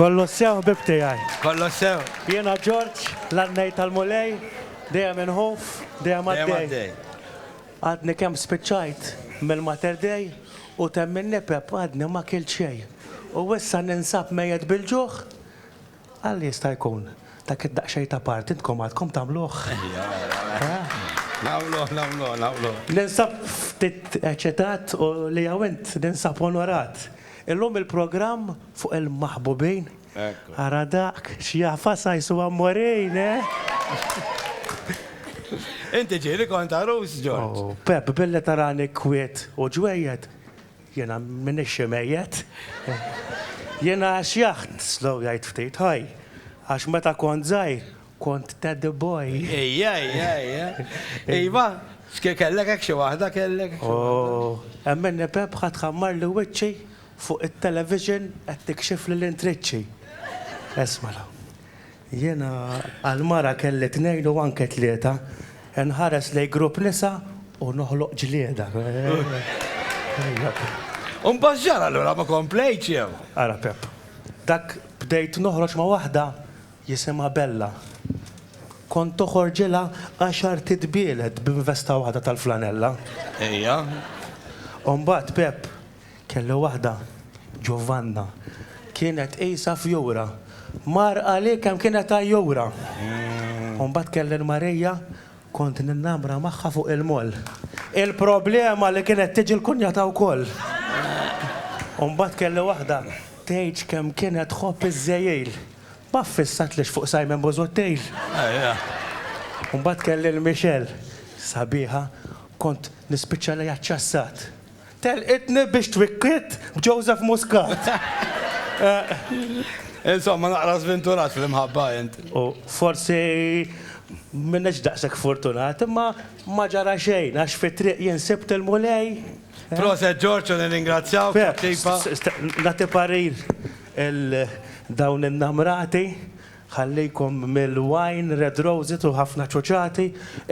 Kollu sew ħbieb tiegħi. Kollu sew. Jiena Ġorġ, l-għannej tal-Mulej, dejjem inħuf, dejjem għaddej. Għadni kemm spiċċajt mill-Mater Dei u temm in-nipep għadni ma kilt xejn. U issa ninsab mejjet bil-ġuħ? Għal jista' jkun dak id-daqsxejn ta' party intkom għadkom tagħmluh? Nagħmluh, nagħmluh, nagħmluh. Ninsab ftit eċitat u li hawn int ninsab onorat. Illum il-programm fuq il-maħbubin. Ekku. Ara dak, x'jafas għajs u għammurin, eh? Inti ġieli kont għarus, Ġorġ. Oh, Pepp, billi tarani kwiet u ġwejjed, Jiena m'iniex xi mejjet. Jiena xjaħt, slow jgħid ftit, ħaj, għax meta kont żgħir, kont teddy boy. Ejja, ejja, ejja. Iva, kellek hekk xi waħda, kellek. Oh, emminni Pepħa tħammarli wiċċi fuq it-television qed tikxifli l-intriċċi. Isma' l-hawn. Jiena għal mara kelli tnejn u anke tlieta, inħares lejn grupp nisa u noħloq ġlieda. U mbagħad x'ġara allura, ma komplejtx jew? Ara Pepp, dak bdejt noħroġ ma' waħda jisimha Bella. Kont toħorġilha għaxar titbielet b'investa waħda tal-flanella. Ejja. U mbagħad Pepp, Kellu waħda, Giovanna. Kienet qisha fjura. Mar qalih kemm kienet għajjura. U mbagħad kelli l-Marija, kont ninnamra magħha fuq il-moll. Il-problema li kienet tiġi l-kunjata wkoll. U mbagħad kelli waħda, tgħidx kemm kienet tħobb iż-żejjil. Ma ffissatlix fuq Simon Busuttil. U mbagħad kelli l-Michelle, sabiħa, kont nispiċċa lejha ċċassat. Telqitni biex twikkiet b'Joseph Muscat. Insomma, naqra żvinturat fl-imħabba int. U forsi m'iniex daqshekk fortunat, imma ma ġara xejn għax fit-triq jien sibt il-Mulej. Proset George u nirringrazzjawk tat-tipa. Nagħti parir il dawn in-namrati Ħallejkom mill-wine red roses u ħafna ċuċati,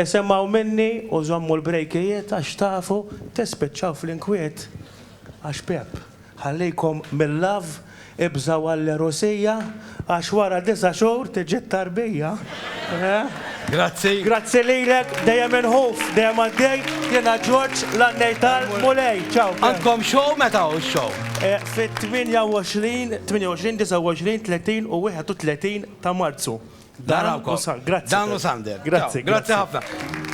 isemgħu minni u żommu l-brejkijiet għax tafu tispiċċaw fl-inkwiet għax Pepp ħallejkom mil-love, ibżgħu għall-għerusija għax wara disa' xhur tiġi t-tarbija. Grazzi. Grazzi lilek, dejjem inħuf, dejjem għaddej, jiena Ġorġ, l-għannej tal-Mulej. Ciao Frank. Għandkom show, meta hu x-show? Fit-28, 28, 29, 30 u 31 ta' Marzu. Dan u Sander. Grazzi. Dan u Sander. Grazzi. Grazzi ħafna.